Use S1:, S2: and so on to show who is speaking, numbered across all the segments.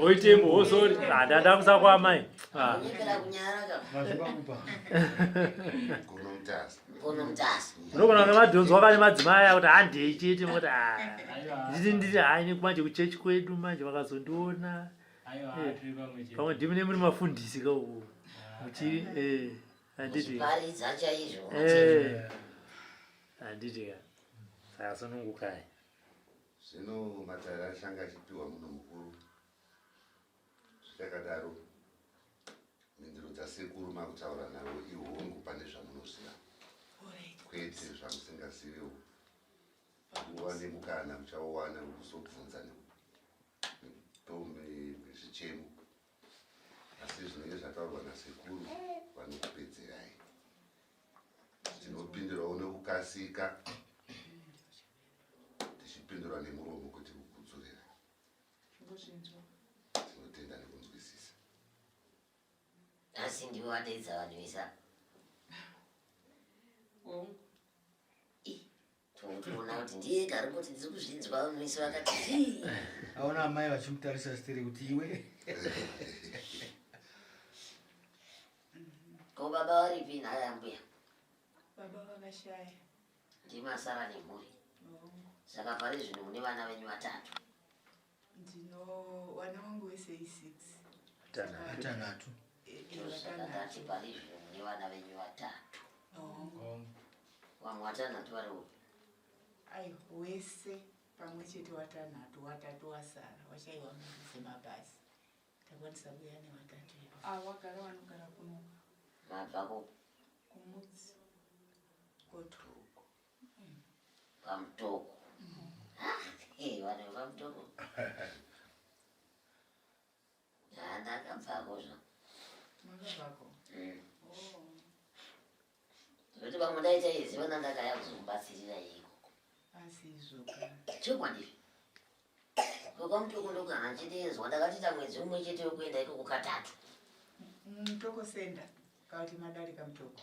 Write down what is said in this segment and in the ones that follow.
S1: oitembo wosori oh, ah, ndada kusa kwaamai
S2: ah.
S1: unogona kunge madhonzwa pane madzimai akuti handei chete moti ah. nditi nditi haini manje kuchechi kwedu manje vakazondiona eh, pamwe ndimi nemuri mafundisi ka uku muchiri eh, handiti eh, handiti ka saka sunungukai Zvino
S3: matare achange achipiwa munhu mukuru. Zvichakadaro, mhinduro dzasekuru makutaura navo ihongu pane zvamunoziva kwete zvamusingazivewo. Nguva nemukana muchauwana wekuzobvunza nezvichemo asi zvinenge zvataurwa nasekuru vanokupedzerai tinopindirawo nekukasika tichipindura nemuromo kuti kukudzurira tinotenda nekunzwisisa
S2: asi ndiwe wadaidza vanhu vesa Tinotoona kuti ndiye ega ari kuti ndiri kuzvinzwa vese vakati zvii. Aona amai
S4: vachimutarisa sitiri kuti iwe.
S2: Ko baba varipi nhaya yambuya? Baba
S5: vakashaya. Ndimi asara
S2: nemhuri. Saka pari zvino mune vana venyu vatatu. Ndino
S5: wana wangu wese i six. Vatanhatu.
S2: Vatanhatu pari izvo mune vana venyu vatatu. Vamwe vatanhatu vari upi? Ayi
S5: wese pamwe chete watanhatu watatu wasara washaiwa mari dzemabhazi takwanisa kuya nevatatu ivo. Ah, wagara wanogara
S6: kunoka. Mabva
S2: kupi? Kumudzi.
S5: Kotuko.
S2: Pamtoko. Hey, wane pamtoko. Ya, ndakabvako zva. Makabvako. Mm. Oh. Zvekuti pamwe ndaita izi vana ndakaya kuzomubatsirira ikoko. Asi
S5: izvoka. Chokwadi.
S2: Ngoba mtoko ndokana ndichindeenzwa ndakatita mwedzi umwe chete wekuenda ikoko katatu.
S5: Mtoko senda. Kauti madarika mtoko.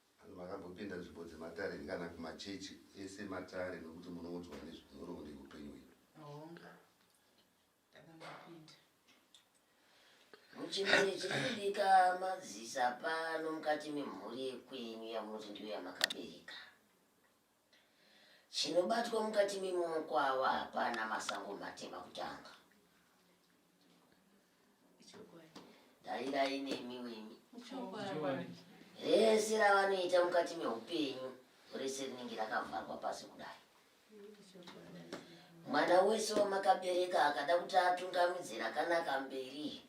S2: Vanhu vakambopinda
S3: nzvimbo dzematare here kana kumachechi ese matare nokuti munoudzwa nezvenhoroondo yeupenyu hwedu? Honga, takambopinda.
S2: Muchimene chiri kudika madzisa pano mukati memhuri yekwenyu yamunoti ndiyo yamakabereka. Chinobatwa mukati memaoko ava hapana masango matema kutanga. Dairai nemi wenyu. Rese ravanoita mukati meupenyu rese rinenge rakavharwa pasi kudai. Mwana wese wamakabereka akada kuti atungamidze rakanaka mberi,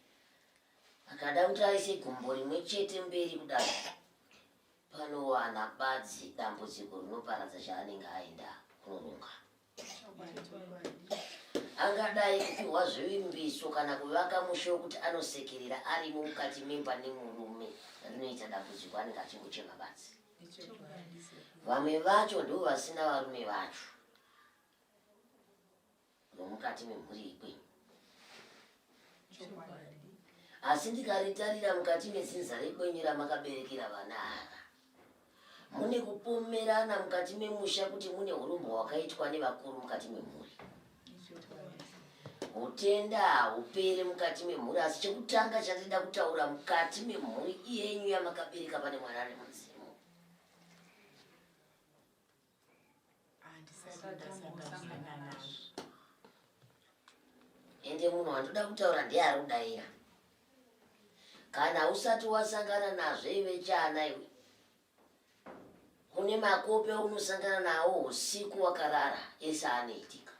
S2: akada kuti aise gumbo rimwe chete mberi kudai Panowana badzi dambudziko rinoparadza chaanenge aenda kunoronga. Angadai kupihwa zvivimbiso kana kuvaka mushe wekuti anosekerera arimo mukati memba nemurume rinoita dambudziko anenge achingochema badzi. Vamwe vacho ndivo vasina varume vacho. nomukati memhuri yekwenyu asi ndikaritarira mukati mezinza rekwenyu ramakaberekera vana ava mune kupomerana mukati memusha kuti mune urombo hwakaitwa nevakuru mukati memhuri utenda haupere mukati memhuri asi chekutanga chatida kutaura mukati memhuri iyenyu yamakabereka pane mwana ari mudzimu ende munhu wandoda kutaura ndiye ari kudaira kana usati wasangana nazvo ive chana iwe kune makopi aunosangana nawo usiku wakarara ese anoitika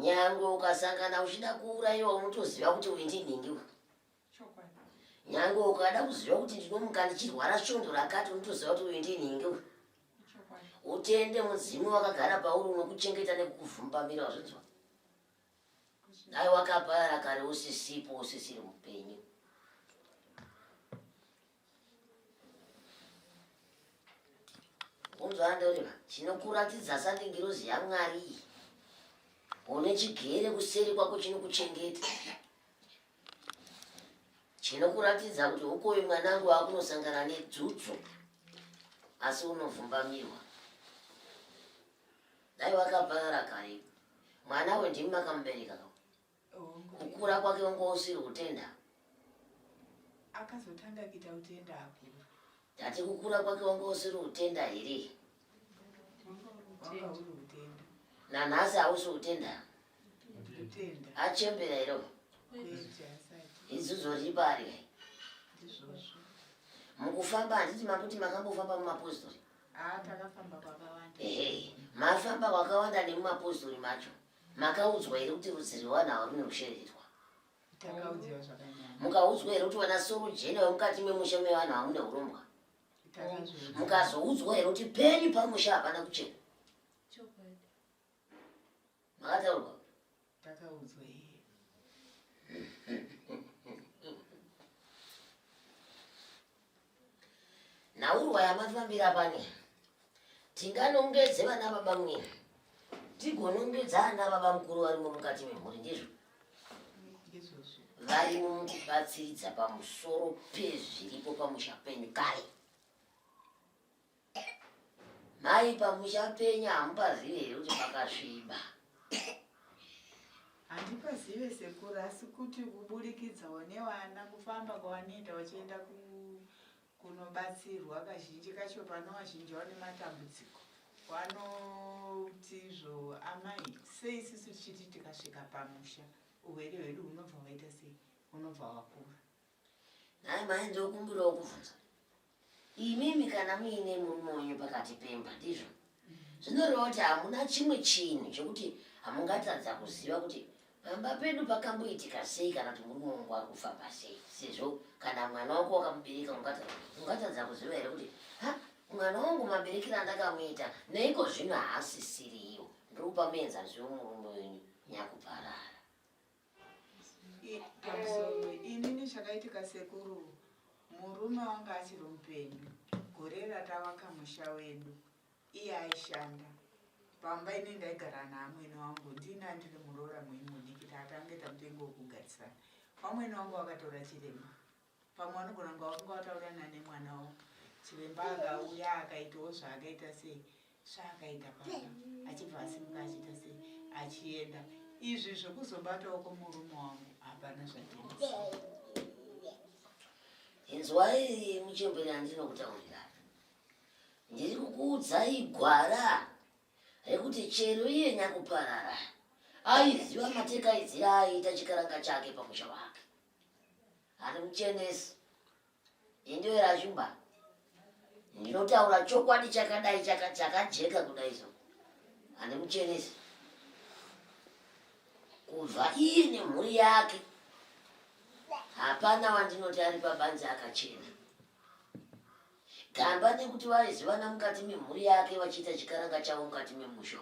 S2: nyangwe ukasangana uchida kuurayiwa unotoziva kuti uintinhingi nyange ukada kuziva kuti ndinomuka ndichirwara svondo rakati unotoziva kuti uyu ndini inge uyu utende mudzimu wakagara pauri unokuchengeta nekukuvhumbamira wazvinzwa dai wakapara kare usisipo usisiri mupenyu unzwa ndoreva chinokuratidza sandi ngirozi yamwari iyi une chigere kuseri kwako chinokuchengeta chinokuratidza kuti ukoyo mwanangu wakunosangana nedzudzu asi unovhumbamirwa dai wakaparara kare mwana we ndimi makamubereka kukura kwake wanga usiri kutenda akazotanga
S5: kuita utenda akura tati kukura
S2: kwake wanga usiri kutenda here
S5: nanhasi hausi
S2: kutenda
S5: achembera iro
S2: izuzo riri pari mukufamba handiti makuti makambofamba mumapostori
S5: ah, ehe mafamba
S2: kwakawanda nemumapostori macho Makaudzwa here kuti rudzi rwevanhu ava rune kusheverwa? Takaudzwa
S5: zvakanyanya. Mukaudzwa here kuti vana
S2: sorojena vemukati memusha mevanhu ava mune urombwa? Takazviudza. Mukazoudzwa here kuti penyu pamusha hapana kuchena? Chokwadi. Makataurwa? Takaudzwa
S5: iye.
S2: Nhaurwa yamafambira pano tinganongedze vana baba mwe tigonongedza ana baba mukuru varimo mukati memhuri ndizvo varimo mukubatsiridza pamusoro pezviripo pamusha penyu kare Mai pamuchapenya hamupazive here kuti pakasviba?
S5: Handipazive sekuru asi kuti kuburikidzawo nevana kufamba kwavanoita vachienda kunobatsirwa kazhinji kacho pano vazhinji vane matambudziko vanotizvo amai sei sisi tichiti tikasvika pamusha urwere hwedu hunobva hwaita sei hunobva hwakura nhai
S2: mai ndokumbirawo kubvunza Imimi kana muine murume wenyu pakati pemba ndizvo zvinoreva kuti hamuna chimwe chinhu chekuti hamungatadza kuziva kuti pamba pedu pakamboitika sei kana kuti murume wangu ari kufamba sei sezvo kana mwana wako wakamubereka ungatadza kuziva here kuti ha mwana wangu maberekero andakamuita neiko zvino haasisiriwo ndiri kupa muenzaniso wemurume wenyu nyakuparara
S5: inini chakaitika sekuru murume wanga achiri mupenyu gore ratavaka musha wedu iye aishanda pamba ini ndaigara naamwene wangu ndini andiri muroora muimudiki taatange tamutengo wekugarisana vamwene wangu vakatora chirema pamwe vanogona kunga vakunga vataurirana nemwana wo chiremba akauya akaitawo zvaakaita sei zvaakaita paa achibva asimuka achiita sei achienda izvi zvekuzobatawo kwomurume wangu hapana zvatinisa
S2: inzwai muchembere andinokutaurira ndiri kukuudzai gwara rekuti chero iye nyakuparara aiziva mateka aiziva aiita chikaranga chake pamusha wake handimuchenesi indoera shumba ndinotaura chokwadi chakadai chakajeka kudai so handimuchenesi kubva iye nemhuri yake hapana wandinoti ari pabanzi akachena gamba nekuti vaizivana mukati memhuri yake vachiita chikaranga chavo mukati memusho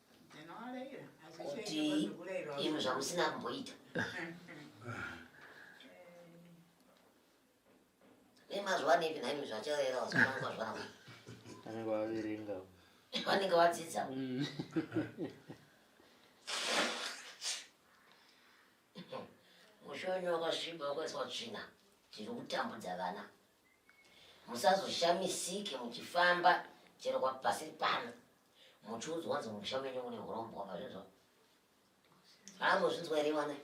S2: kuti izvo zvamusina kumboita nemazuva nepi naimi zvachavaera vasikwanisa zvavo vanenge
S1: vaverenga vanenge
S2: vadzidza mm. mushoni wakasviba wakaiswa tsvina tiri kutambudza vana musazoshamisike muchifamba chero kwapasiri pano muchiudzwa kuti mumusha menyu mune hurombwa mazvinzwa haambozvinzwa here vana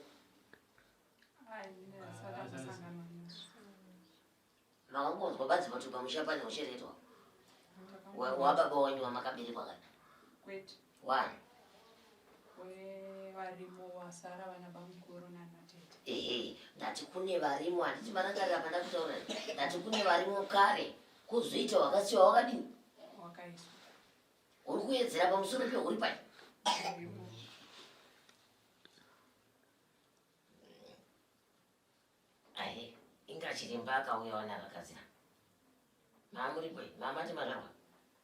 S2: maungonzwa badzi kuti pamusha pane ucheretwa wababa wenyu wamakaberekwa kana wani
S6: ehe ndati
S2: kune varimo handiti marangarira pandakutaura ndati kune varimo kare Kuzoita wakasiwa wakadini?
S6: Wakaiswa. Uri
S2: kuedzera pamusoro peuri pai? Ahe, inga chiremba akauya wana akakazira. Mamuri pai? Mama timazvarwa.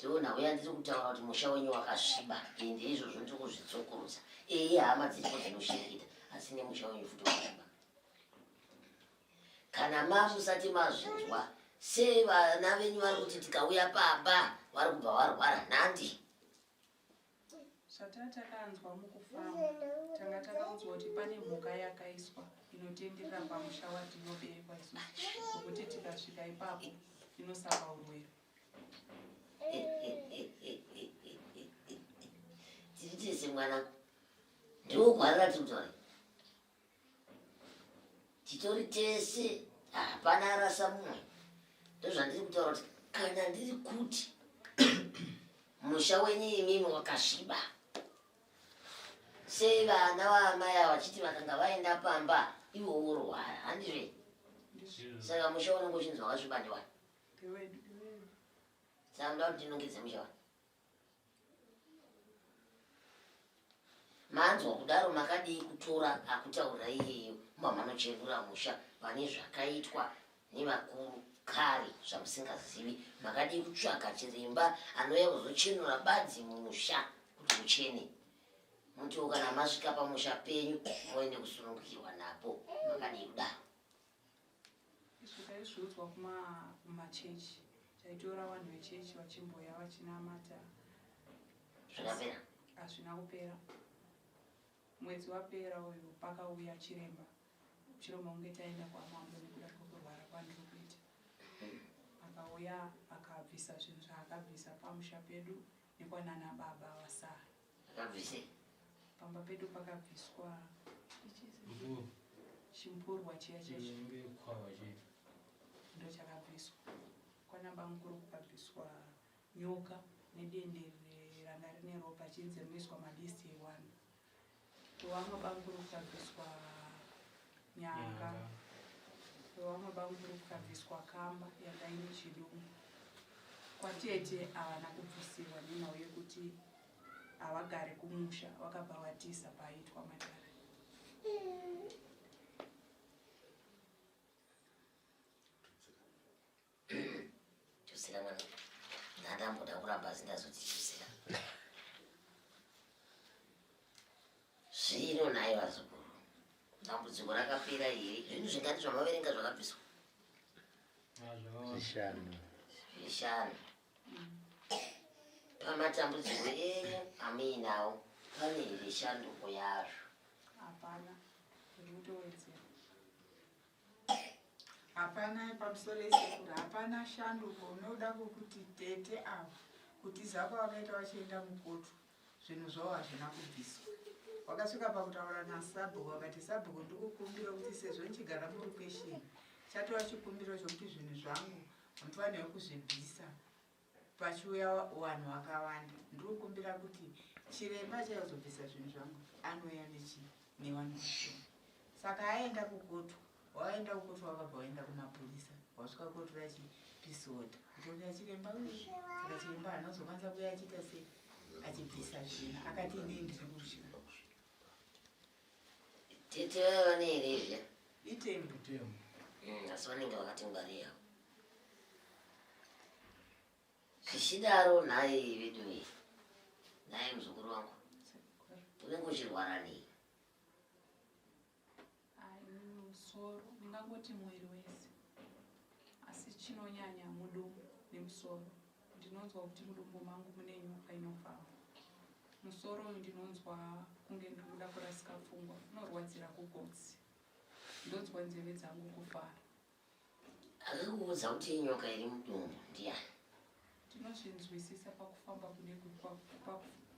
S2: tiona uya ndiri kutaura kuti musha wenyu wakasviba ende izvozvo ndiri kuzvitsokurudza eye hama dziripo dzinoshereketa asi nemusha wenyu futi wakasviba kana mamusati mazvinzwa sei vana venyu vari kuti tikauya pamba vari kubva varwara nhandi
S6: Zvatatakanzwa mukufamba tanga takaudzwa kuti pane mhuka yakaiswa inotenderera pamusha watinoberekwa isusu zvokuti tikasvika ipapo inosaka urwere.
S2: Tiri tese mwanangu, ndiwo gwara ratinzwai. titori tese hapana arasa mumwe ndozvandiri kutaura kuti kana ndiri kuti musha wenyu imimi wakasviba sei vana vaamai ava vachiti vakanga vaenda pamba ivo worwara handizve saka musha unenge uchinzi wakasviba ndiwani saka ndoda kuti ndinongedze musha wani manzwa kudaro makadii kutora akutaura iyeyo mba manochenura musha pane zvakaitwa nevakuru kare zvamusingazivi makadii kutsvaka chiremba anouya kuzochenura badzi mumusha kuti muchene mutiwo kana masvika pamusha penyu moende kusunungukirwa napo makadii kudaro
S6: Izvo taizviudzwa kuma kumachurch taitora vanhu vechurch vachimboya vachinamata
S2: Zvikapera. hazvina
S6: kupera mwedzi wapera uyu pakauya chiremba chiremba kunge taenda kwamambo nekuda kwekurwara kwandiri kuita akauya akabvisa zvinhu zvaakabvisa pamusha pedu nekwanana baba vasara Akabvisei?
S2: Pamba
S6: pedu pakabviswa chimburwa chiya chekwava chiya ndochakabviswa kwanaba mukuru kukabviswa nyoka nedende ranga rine ropa chinzi rinoiswa madisti ewani wevamwe bamukuru kukabviswa nyanga wevamwe bamukuru kukabviswa kamba yanga ine chidumbu kwatete havana kubvisirwa nenhau yekuti hawagare kumusha wakabva watiza paaitwa matare
S2: tusira mwana ndandamboda kuramba asi ndazoti tusira zvino naye vazukuru dambudziko rakapera here zvinhu zvingani zvamaverenga zvakabviswa zvishanu zvishanu pamatambudziko enyu amuinawo pane here shanduko yazvo hapana
S6: ndikutowedzera
S5: hapana pamusoro esekuru hapana shanduko unoda kukuti tete avo kutiza kwavakaita vachienda mukoto zvinhu zvavo hazvina kubviswa wakasvika pakutaura nasabhuku wakati sabhuku ndikukumbira kuti sezvo ndichigara murukwesheni chatova chikumbiro chokuti zvinhu zvangu Mfanirwa kuzvibvisa pachiuya vanhu vakawanda. Ndiri kukumbira kuti chiremba achazobvisa zvinhu zvangu anouya nechi newani wacho. Saka aenda kukotu, waenda kukotu wakabva waenda kumapurisa, wasvika kotu rachi pisota. Kutombira chiremba uyu, saka chiremba haana kuzokwanisa kuya achiita sei achibvisa zvinhu akati inini ndiri kuzvira.
S2: Tete vaya vane here izviya? Itemu
S5: tutemu. Mm,
S2: asi vanenge vakatingwariya. Zvichidaro nhai vedu iyi. Nhai muzukuru wangu. Unenge uchirwara nei?
S6: Musoro, ndingangoti mwiri wese. Asi chinonyanya mudumo nemusoro. Ndinonzwa kuti mudumbu mangu mune nyoka inofamba. Musoro uyu ndinonzwa kunge ndiri kuda kurasika pfungwa, unorwadzira kugotsi. Ndonzwa nzeve dzangu kufara.
S2: Akakuudza kuti inyoka iri mudumbu ndiani? Ndinozvinzwisisa
S6: pakufamba kune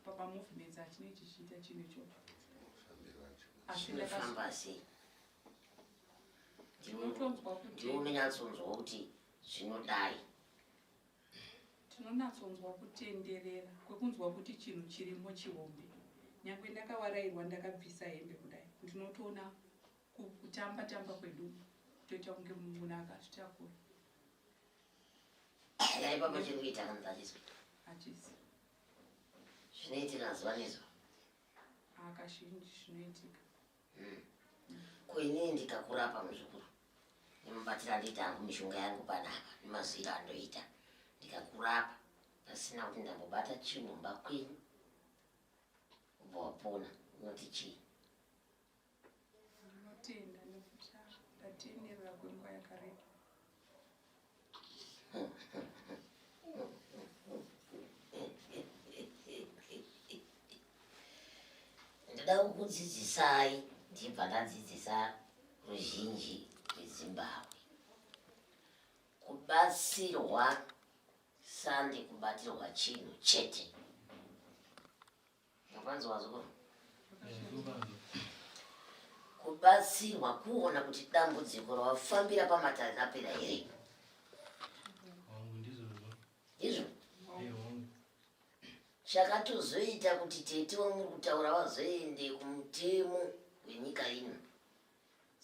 S6: papamovements achinenge chichiita chinhu ichocho. Asi
S2: ndakafamba sei?
S6: Ndinotonzwa kuti ndiwe unonyatsonzwa kuti
S2: zvinodai.
S6: Tinonatsonzwa kutenderera kwekunzwa kuti chinhu chirimo chihombe. Nyangwe ndakawarairwa ndakabvisa hembe kudai ndinotoona kutamba tamba kwedu toita kunge munhu akazvitakura.
S2: Chaipapo chekuita kanzaliswa. Achisi.
S6: Zvinoitika
S2: zuva nezuva.
S6: Akashinji zvinoitika. Hmm. Ko
S2: inini ndikakurapa muzukuru ndinobatira ndoita hangu mishonga yangu panapa nemazwiro andoita ndikakurapa pasina kuti ndambobata chinhu mba kwenyu ubva wapona unoti chii ndinotenda
S6: nekuti ndatenderera kwenguva yakareba
S2: ndoda kukudzidzisai ndibva ndadzidzisa ruzhinji rwezimbabwe kubatsirwa sandi kubatirwa chinhu chete Mukwanzi wazukuru. Kubatsirwa kuona kuti dambudziko rawafambira pamatare rapera here? Izvo? Chakatozoita kuti tete wamuri kutaura vazoende kumutemo wenyika ino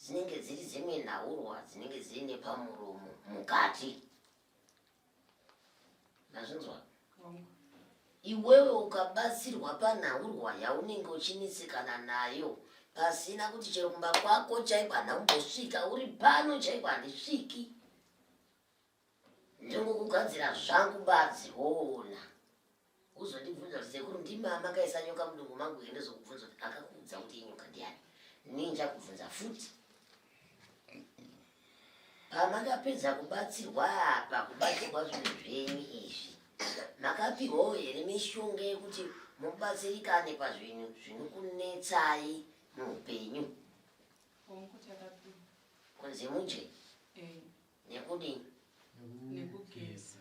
S2: dzinenge dziri dzimwe nhaurwa dzinenge dziine pamuromo mukati nazvinzwa iwewe ukabatsirwa panhaurwa yaunenge uchinetsekana nayo pasina kuti chero kumba kwako chaiko hana kumbosvika uri pano chaiko handisviki ndingokugadzira zvangu badzi woona uzondibvunza kuti sekuru ndimi amakaisa nyoka mudumbu mangu here ndozokubvunza kuti akakuudza kuti inyoka ndiani nii ndichakubvunza futi pamakapedza kubatsirwa apa kubatsirwa zvinhu zvenyu izvi makapihwawo here mishonga yekuti mubatsirikane pazvinhu zvinokunetsai muupenyu kunzi mudye eh. nekudii
S6: nekugeza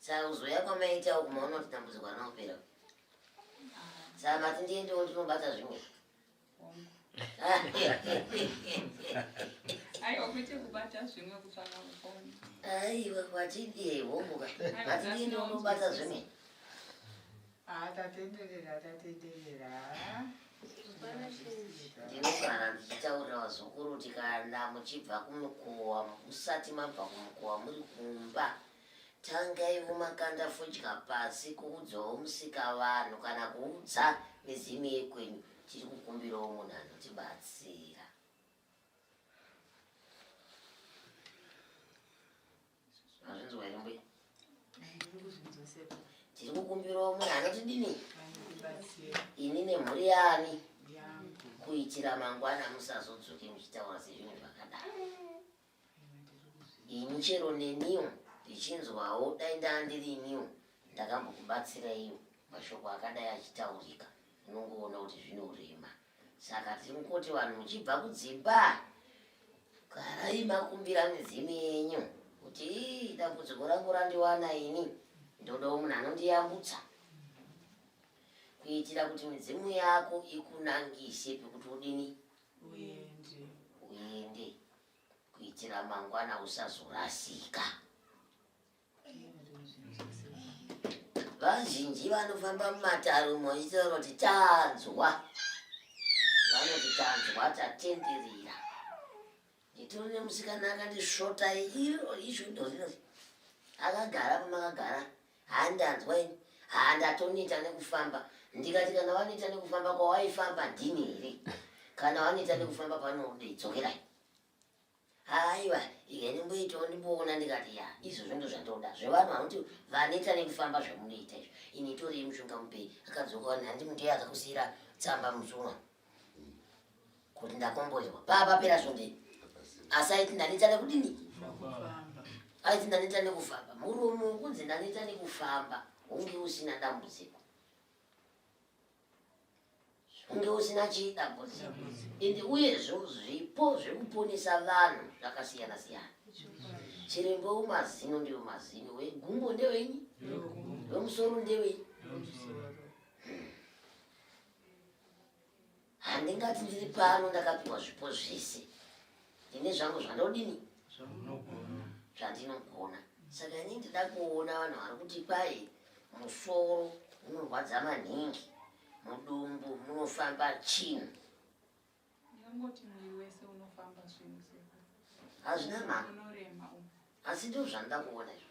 S2: Saka kuzoya kwamaita uku maona kuti dambudziko harina kupera. Saka mati ndiendewo ndinobata zvimwe. Aiwa
S6: kuite kubata zvimwe kutsvaka mufoni. Aiwa
S2: kwatidie homuka. Mati ndiendewo ndinobata zvimwe. Haa
S5: tatenderera
S2: tatenderera haa. Hapana chinji. Ndinogara ndichitaurira vazukuru kuti kana muchibva kumukowa musati mabva kumukowa muri kumba tangaivo makanda fodya pasi kuudzawo musika vanhu kana kuudza mizimu yekwenyu tiri kukumbirawo munhu anotibatsira Mazvinzwa here mbuya? Tiri kukumbirawo munhu anotidini?
S5: Ini nemhuri
S2: yani
S5: kuitira
S2: mangwana musazodzoke muchitaura sezvinhu zvakadaro. Ini chero neniwo ndichinzwawo dai ndandiri iniwo ndakambokubatsiraiwo mashoko akadai achitaurika unongoona kuti zvinorema saka tiri kungoti vanhu muchibva kudzimba garai makumbira midzimu yenyu kuti ii dambudziko rangu randiwana ini ndodawo munhu anondiyambutsa kuitira kuti midzimu yako ikunangise pekuti udini uende kuitira mangwana usazorasika vazhinji vanofamba mumatare umo vachitaura kuti tanzwa vanoti tanzwa tatenderera nditori nemusikana akandisvota iro izvo ndozvinoti akagara pamakagara handanzwa ini handatoneta nekufamba ndikati kana waneta nekufamba kwawaifamba ndini here kana waneta nekufamba panoudei dzokerai haiwa ika ndimboitawo ndimboona ndikati ya izvo zvondo zvandoda zvevanhu vanoti vaneta nekufamba zvamunoita izvo ini itorei mushonga mupei akadzoka wani handi mutei akakusiyira tsamba musumwa kuti ndakomboerwa papa pera zvondei asi aiti ndaneta nekudini aiti ndaneta nekufamba murume ukunzi ndaneta nekufamba hunge usina dambudziko kunge usina chidambudziko and uyezvo zvipo zvekuponesa vanhu zvakasiyana siyana chirembo wemazino ndiwo mazino wegumbo ndewenyi wemusoro ndewenyi handingati ndiri pano ndakapiwa zvipo zvese ini zvangu zvandodini zvandinogona saka ini ndida kuona vanhu vari kuti kwai musoro unorwadza maningi mudumbu munofamba chini
S6: hazvina
S2: mhaka
S6: asi
S2: ndozvandida kuona izvo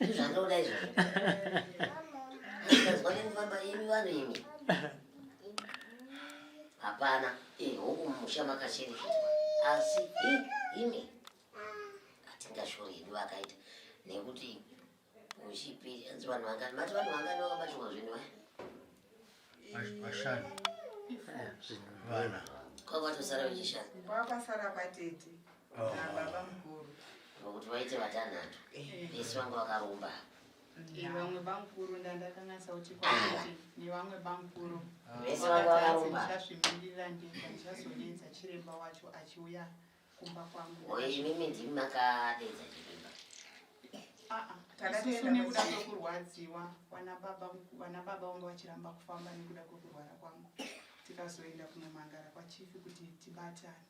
S2: Ndozvandoda izvozvo. Ndazwa nekufamba imi vanhu imi. Hapana, eh huku mumusha makacherechedzwa. Asi imi atingashori hedu vakaita nekuti uchipiri anzi vanhu vangani mati vanhu vangani vakabatirwa zvinhu vaya.
S4: vashanu vana kwavatosara
S2: vechishanu kwakasara
S5: kwatete oh. nababa mukuru nokuti vaite
S2: vatanhatu eh. vese vanga vakaromba vamwe
S6: bamukuru ndandakanasa kuti kwakuti nevamwe bamukuru vese vanga
S2: vakaromba ndichasvimbirira
S6: ndichazonenza chiremba wacho achiuya kumba kwangu oye imimi ndimi
S2: makadedza chivimba
S6: takatisu nekuda kwekurwadziwa vana baba vana baba vanga vachiramba kufamba nekuda kwekurwara kwangu tikazoenda kunomangara kwachifi kuti tibatane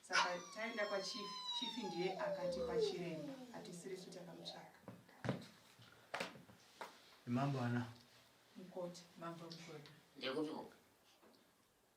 S6: saka taenda kwachifi chifi ndiye akatipa chiremba hatisirisu takamutsvaka
S4: mambo ana mukoti
S6: mambo mukoti
S5: ndekupiko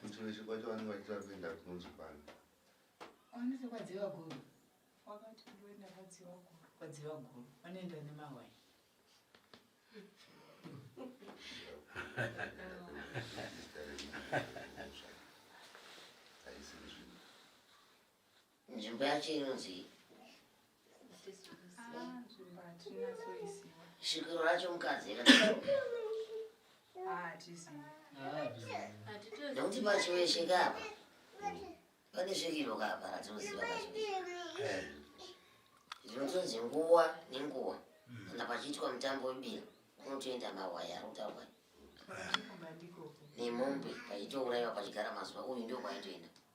S5: kuchiveshe
S3: kwacho vanenge vachitira kuenda kunonzi kwani anoita
S5: kwadziva guru wakati kuenda kwadziva guru
S6: kwadziva
S5: guru
S2: vanoenda nemawai Nzvimbo yacho inonzi
S6: svikiro racho
S2: mukadzi nekuti pachiweshe kapa pane svikiro kapa ratinoziva zvinotonzi nguwa nenguwa kana pachiitwa mutambo webira kunotoenda mawaya arikutaurwa nemombe pachitouraiwa pachigara mazuva uyu ndio kwaitoenda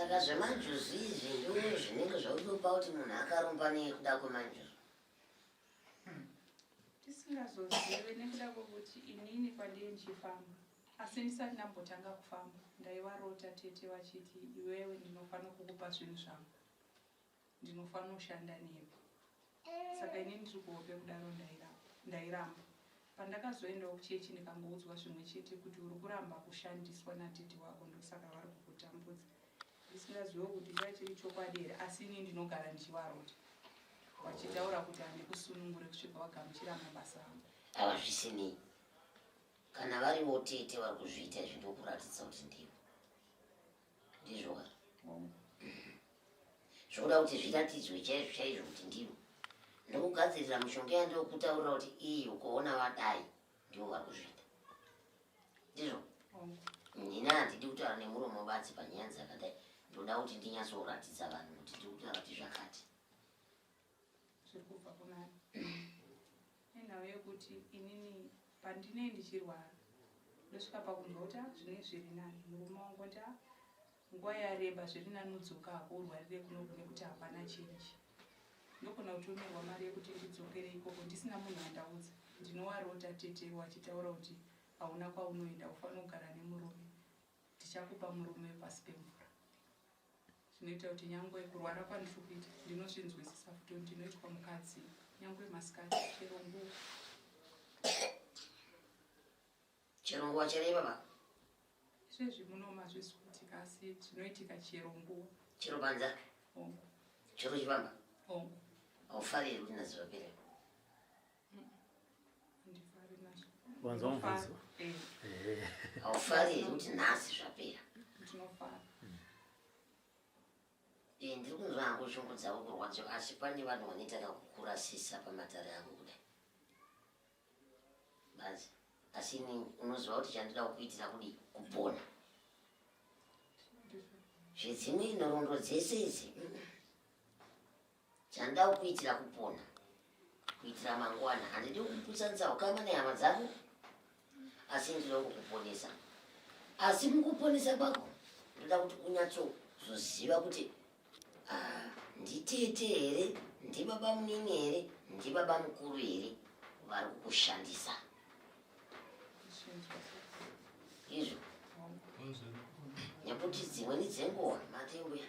S2: saka zvemanjuzu izvi ndo zvinenge zvautopa kuti munhu akarumba nekuda kwemanjuzu hmm.
S6: tisingazozive nekuda kwekuti inini kwandiye ndichifamba asi ndisati ndambotanga kufamba ndaivarota tete vachiti iwewe ndinofanira kukupa zvinhu zvangu ndinofanira kushanda nemi saka ini ndiri kuhope kudaro ndairamba pandakazoendawo kuchechi ndikangoudzwa zvimwe chete kuti uri kuramba kushandiswa natete wako ndosaka vari kukutambudza ndisingazivewo kuti ndaa chiri chokwadi here asi ini ndinogara ndichivarota vachitaura kuti handi kusunungure kusvika wagamuchira mabasa avo ava zvisinei
S2: kana varivo tete vari kuzviita izvi ndokuratidza kuti ndivo ndizvoka zvokuda kuti zviratidzwe chaizvo chaizvo kuti ndivo ndokugadzirira mushonga yandokutaurira kuti iyi ukuona vadai ndivo vari kuzviita ndizvo nina handidi kutaura nemuromo batsi panyaya dzakadai ndoda kuti ndinyatsoratidza vanhu kuti ndiri kutaura kuti zvakati
S6: zviri kubva kuna nenhau yekuti inini pandinei ndichirwara ndosvika pakunzwa kuti ah, zvinei zviri nani murume wangu nda ah, nguva yareba zviri nani udzoka hako urwarire kuno kune kuti hapana chinji ndogona kutumirwa mari yekuti ndidzokere ikoko ndisina munhu andaudza ndinowarota tete wachitaura kuti hauna kwaunoenda ufanira kugara nemurume ndichakupa murume pasi pemvura zvinoita kuti nyangwe kurwara kwandiri kuita ndinozvinzwisisa futi kuti ndinoitwa mukadzi nyangwe masikati chero nguva
S2: chero nguva chero ivava izvezvi
S6: muno mazvisi kuti kasi zvinoitika chero nguva chero panza chero chivamba aufari here kuti
S2: nazivapere
S6: wanzwa mubvunzo
S1: eh. Eh. haufari
S2: here kuti nhasi zvapera eh, ndiri kunzwa hangu shungu dzavo kurwadzo asi pane vanhu vanoita kakukurasisa pamatare angu kudai bazi asi ini unoziva kuti chandida kukuitira kudi kupona zvedzimwe nhoroondo dzese idzi Chanda ukuitira kupona kuitira mangwana handidi kukusanisa ukama nehama dzako asi ndinokukuponesa asi mukuponesa kwako ndoda kuti unyatsozoziva kuti ah, nditete here ndibaba munini here ndibaba mukuru here vari kukushandisa izvo nekuti dzimweni dzenguva matenguya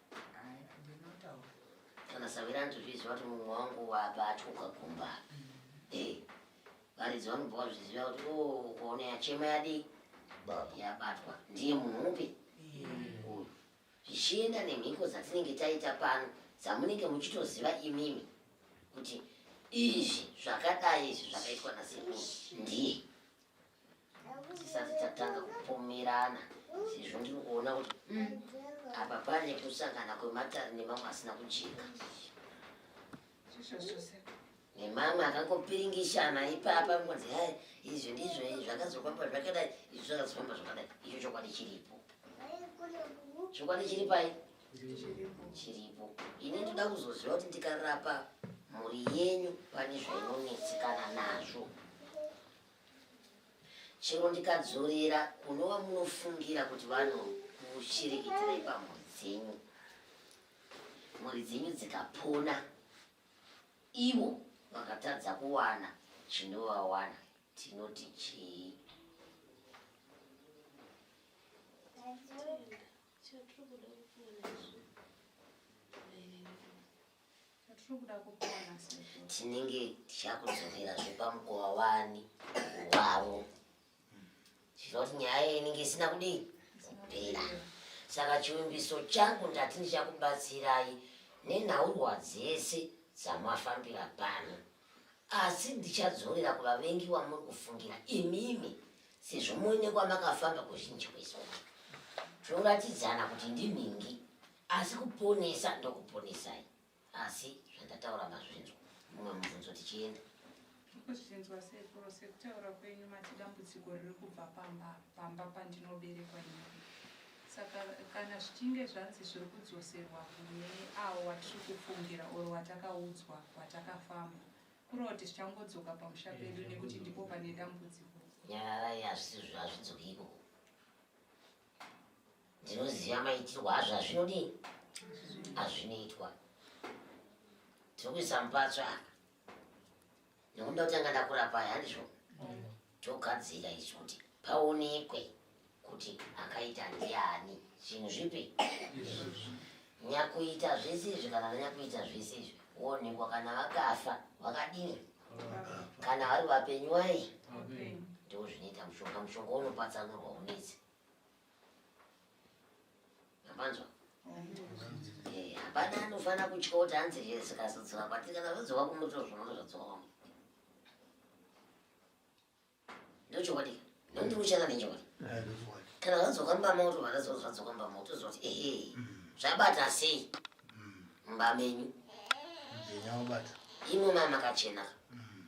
S2: kana savira ndizviziva kuti mumwe wangu wabva atyoka kumba eh, varidzi vanobva vazviziva kuti o oh, kuona yachema yadii yabatwa ndiye munhu upi uyu zvichienda nemhiko dzatinenge taita pano dzamunenge muchitoziva imimi kuti izvi zvakadai izvi zvakaitwa nasekuru ndiye tisati tatanga kupomerana sezvo ndiri kuona kuti mm, apa pane kusangana kwematare nemamwe asina kujeka nemamwe akangopiringishana ipapa kunzi hai izvi ndizvo izvi zvakazofamba zvakadai izvi zvakazofamba zvakadai icho chokwadi chiripo chokwadi chiri pai chiripo ini ndoda kuzoziva kuti ndikarapa mhuri yenyu pane zvainonetsekana nazvo chero ndikadzorera kunova munofungira kuti vanokushirikidzira ipamhuri dzenyu mhuri dzenyu dzikapona ivo vakatadza kuwana chinovawana tinoti chii Chatiri kuda kupona izvo. Chatiri kuda kupona sezvo. Tinenge tichakudzokera zvepamukova wani wavo. Zvinoti nyaya inenge isina kudii kupera. Saka chivimbiso changu ndati ndichakubatsirai nenhaurwa dzese dzamafambira pano. Asi ndichadzorera kuvavengi wamuri kufungira imimi sezvo muine kwamakafamba kuzhinji kwezuva zvoratidzana kuti ndinhingi asi kuponesa ndokuponesai asi zvandataura mazvinzwa mumwe mubvunzo tichienda kuzvinzwa
S6: sekuru sekutaura kwenyu mati dambudziko riri kubva pamba pamba pandinoberekwa ini Saka kana zvichinge zvanzi zviri kudzoserwa kune avo watiri kufungira or watakaudzwa kwatakafamba kureva kuti zvichangodzoka pamusha pedu nekuti ndipo pane dambudziko nyararai
S2: hazvisizvo hazvidzoki ikoko ndinoziva maitirwo azvo hazvinodii hazvinoitwa tiri kuisa mupatsva aka nekuda kuti anga ndakurapa aya handizvo togadzira isu kuti paonekwe kuti akaita ndiani zvinhu zvipi nyakuita zvese izvi kana vanyakuita zvese izvi woonekwa kana vakafa vakadini kana vari vapenyu wai ndozvinoita mushonga mushonga unopatsanurwa unetsi yamanzwa eh, hapana anofanira kutya kuti hanzi zvikazodzoka kwatiri kana zodzoka kumuto zvinono zvodzoka kwamu ndochokwadi ndondi kuchana nenchokwadi kana vadzoka mbama kuti vadazoa zvadzoka mbama kuti zoti ehe mm. zvabata sei mm. mbamenyu imwe mama kachena mm.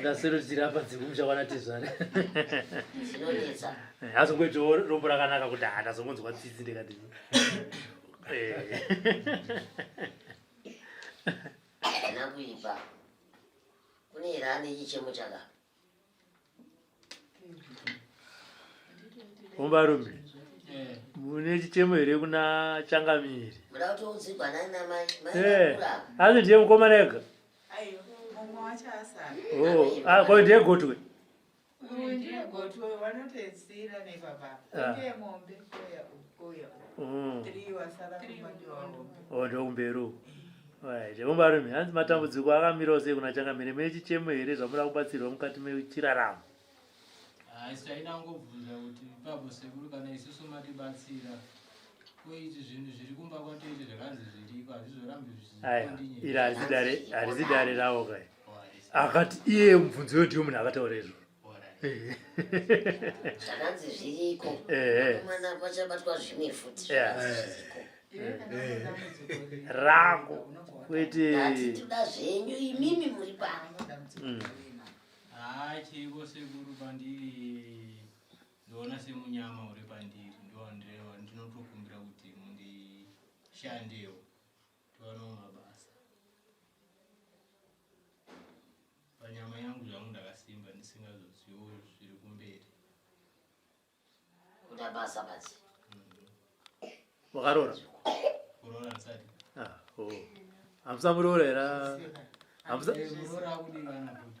S1: ndasarudira apa dzekumusha kwana tezvara
S2: azongoitawo
S1: rombo rakanaka kuti ha ndazongonzwa tsitsi ndikati ana
S2: kuipa kune ira ane chichemo chaka
S1: Umbarume mune chichemo here kuna changamiri
S2: eh, asi
S1: ndiye mukomana ega
S5: oh, ah, ko ndiye gotwe ndokumberi
S1: Jemubarume, hanzi matambudziko akamirawo sei kuna changamire mechichemo here zvamuda kubatsirwa mukati mechiraramo?
S7: Haisi chaida kungobvunza kuti ipapo sekuru kana isusu matibatsira koiti zvinhu zviri kumba kwatoite zvakanzi zviriko hazvizorambi zvichizondinye.
S1: Iri harisi dare ravo kai. akati iye mubvunzo yo ndiyo munhu akataura izvo
S2: zvakanzi zviriko mwana kwachabatwa zvimwe futi
S1: rangu kwete toda zvenyu
S2: imimi muri pano mm. haa
S7: chiko sekuru pandiri ndoona semunyama uri pandiri ndoandrewa ndinotokumbira kuti mundishandewo Towana mabasa. Panyama yangu zvangu ndakasimba ndisingazoziwo zviri kumberi.
S2: Kuda basa basi. Wakarora?
S1: Kurora
S7: ndisati. Ah, oh. Hamsa
S1: murora era. Hamsa.
S7: Murora kudivana kuti.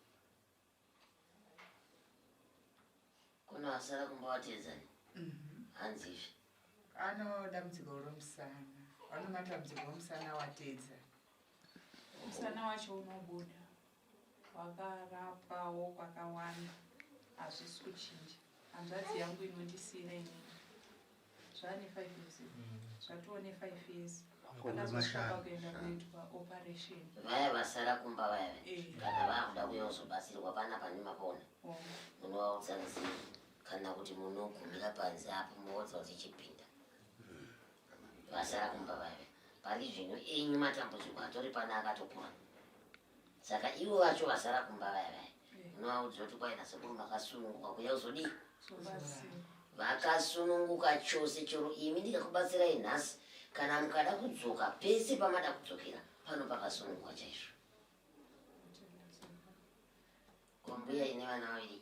S2: kuno asara kumba wateedzani mhm. hanzizve ano dambudziko romusana
S5: ano matambudziko omusana wateedza
S6: musana wacho unobuda wakarapwawo kwakawanda hazvisi kuchinja hanzvadzi yangu inondisiira inini zvaane five years zvatoo nefive years akazosvaka kuenda kuitwa operation vaya vasara
S2: kumba vaya eh. kana vakuda kuyozobatsirwa pana pane mapona oh. munovaudza nzii kana kuti munogumira panze apo moudza kuti chipinda hmm. vasara kumba vaya pari zvino enyu matambudziko atori pana akatopona saka ivo vacho vasara kumba vaya vaya unovaudza kuti kwaina sekuru makasununguka kuya uzodii vakasununguka chose chero imi ndikakubatsirai nhasi kana mukada kudzoka pese pamada kudzokera pano pakasununguka chaizvo kombuya ine vana vaviri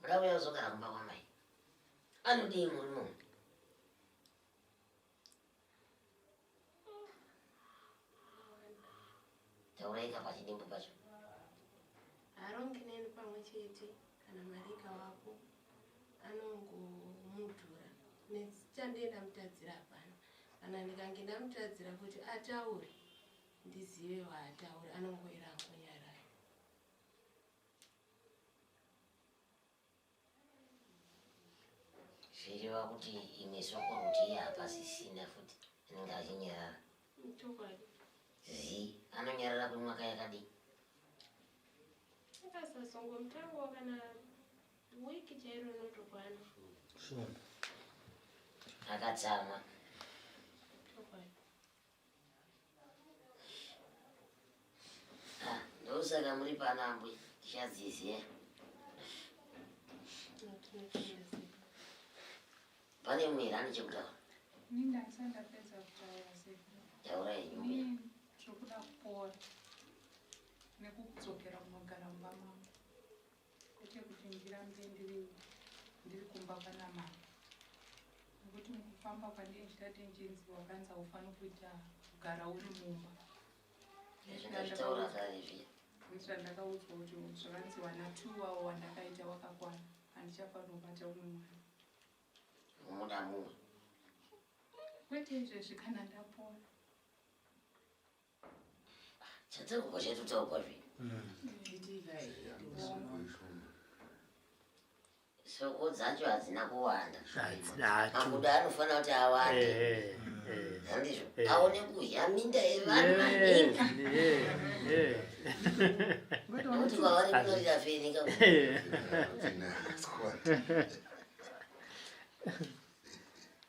S8: Muramu
S2: yozogara kumba kwamai. Anodii muri munhu? Tauraika pachidimbu pacho.
S8: Harongi neni pamwe chete kana mari ikavapo anongomudhura nechandienda mutadzira hapana kana ndikange ndamutadzira kuti ataure ndizive waataura anongoera angonyarara
S2: zvireva kuti imwe soko kuti iye hapasisina futi anenge achinyarara chokwadi
S8: zi
S2: anonyarara kwemwaka yakadii
S8: akasasongo mutango kana wiki chairo inotokwana sure
S2: akatsamwa
S8: chokwadi
S2: Ah, ndosaka muri pano ambwe tichadziziva pane mumwe here ane chekutaura
S6: taura yenyu
S2: zvokuda
S6: kupora nekudzokera kunogara mumba mangu Kwete kuti ndirambe ndiri ndiri kumba kwana mama. Ngokuti mukufamba kwandiri ndichati ndichinzi wakanzi haufaniri kuita kugara uri mumba.
S2: Zvingazvitaura kani zviya. Kuitira ndakaudzwa
S6: kuti zvakanzi wana two wawo wandakaita wakakwana handichafanira kubata umwe mwana. Unoda
S2: mumwe.
S6: Kwete izvezvi kana ndapora.
S2: Chatauko chetu tauko zve. Soko dzacho hadzina kuwanda. Makuda anofanira kuti awande. Eh, eh. Handizvo. Eh. Aone kuzha minda yevanhu maningi. Kuti kwavari kunorira fenika.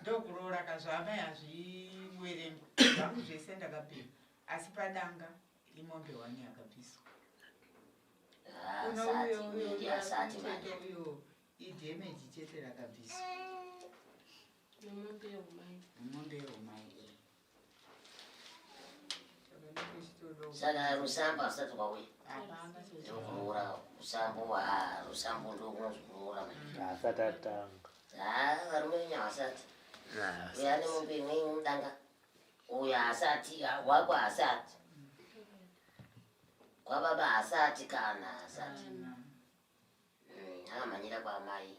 S5: ndokuroora ka zvaamai hazviwerengwa zvangu zvese ndakapera asi padanga imombe wani yakabviswa ah, kuno
S2: uyo uyo uyochete uyo
S5: idhemeji chete rakabviswa
S8: nemombe yehumai
S5: eh.
S2: saka rusamba asati kwauya
S5: ndokunourawa
S2: rusambo rusambo ndokunonzi kunoura asati
S1: atanga varume venyu
S2: havasati uyo ane mombe imweni mudanga uyo haasati wako haasati kwababa haasati kana haasati mm, akamhanyira kwaamai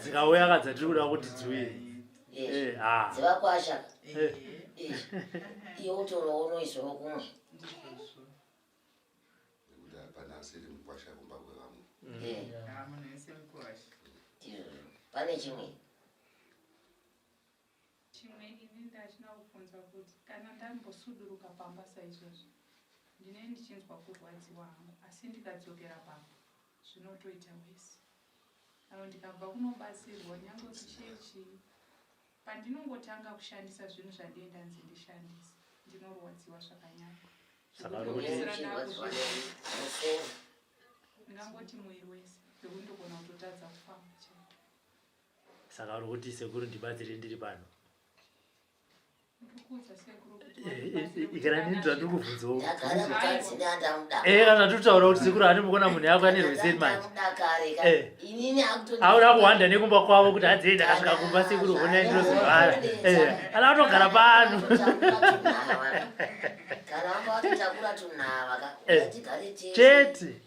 S5: dzikauya
S2: kadza tiri
S1: kuda kuti dziuye
S2: dzivakwasha iwe
S3: utorowonoizoro kumwe pane
S2: chimwe
S6: Chimwe ini ndachida kubvunza kuti kana ndambosuduruka pamba saizvozvi ndinenge ndichinzwa kurwadziwa hangu asi ndikadzokera pamba zvinotoita worse or ndikabva kunobatsirwa nyangwe kuchechi pandinongotanga kushandisa zvinhu zvandiye ndanzi ndishandise ndinorwadziwa zvakanyanya ndingangoti muviri wese zvekuti ndogona kutotadza kufamba chete Saka
S1: uri kuti sekuru ndibatsire ndiri pano? ikananinzvandikuvhunzaoatutaura kuti sekuru ani mukona munhu yako ane rweseri manjeauda kuhwanda nekumba kwavo kuti hadzei ndakasvika kumba sekuru honai ndinozivara ana kutogara pano chete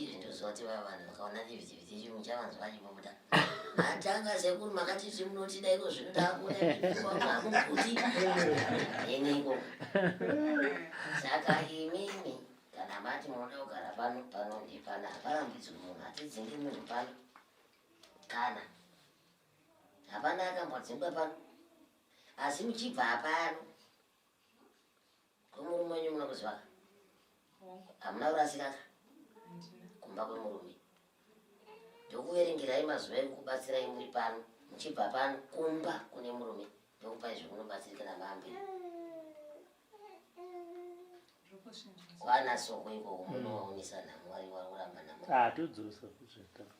S2: izvi ndoziva kuti vaya vanhu vakaona vhivhivhiti chirungu chavanzi vachibuda atanga sekuru makati zvi munotida iko zvino takuamuguti eniko saka imimi kana mati munoda kugara pano pano ndipana haparambidzwi munhu hatidzingi munhu pano kana hapana akambodzingwa pano asi muchibva hapano Kwemurume wenyu muna kuziva ka? Hamuna kurasika ka? Kumba kwemurume. Ndokuverengerai mazuva ekukubatsirai muri pano muchibva pano kumba kune murume ndokupai zvekunobatsirika na mambe. Kwana soko ikoko munowaonesa nhamo wari wari kuramba nhamo. Ah, todzosa kuzvitanga.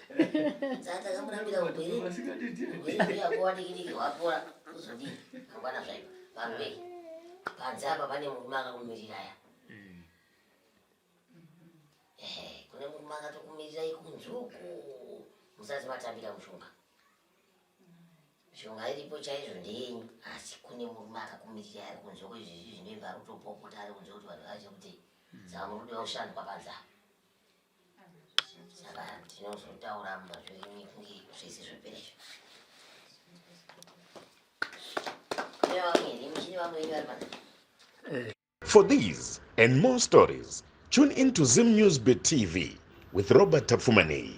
S2: Sasa kama unaambia ukweli, wewe pia kwa nini kile wapola uzodi bwana sasa vanhu vei panze apa pane murume akakumirira ya mm. ehe kune murume akatokumirira ikunzuku musati matambira mushonga mishonga iripo chaizvo ndeyenyu asi kune murume akakumirira ari kunze kwezvizvi zvinoimba ari kutopopota ari kunze kuti vanhu vazive kuti zama mm. rudo yaushandwa panze apa saka tinozotaura mazviri kunge zvese zvopera izvo
S9: For these and more stories, tune in to Zim News Beat TV with Robert Tapfumanei.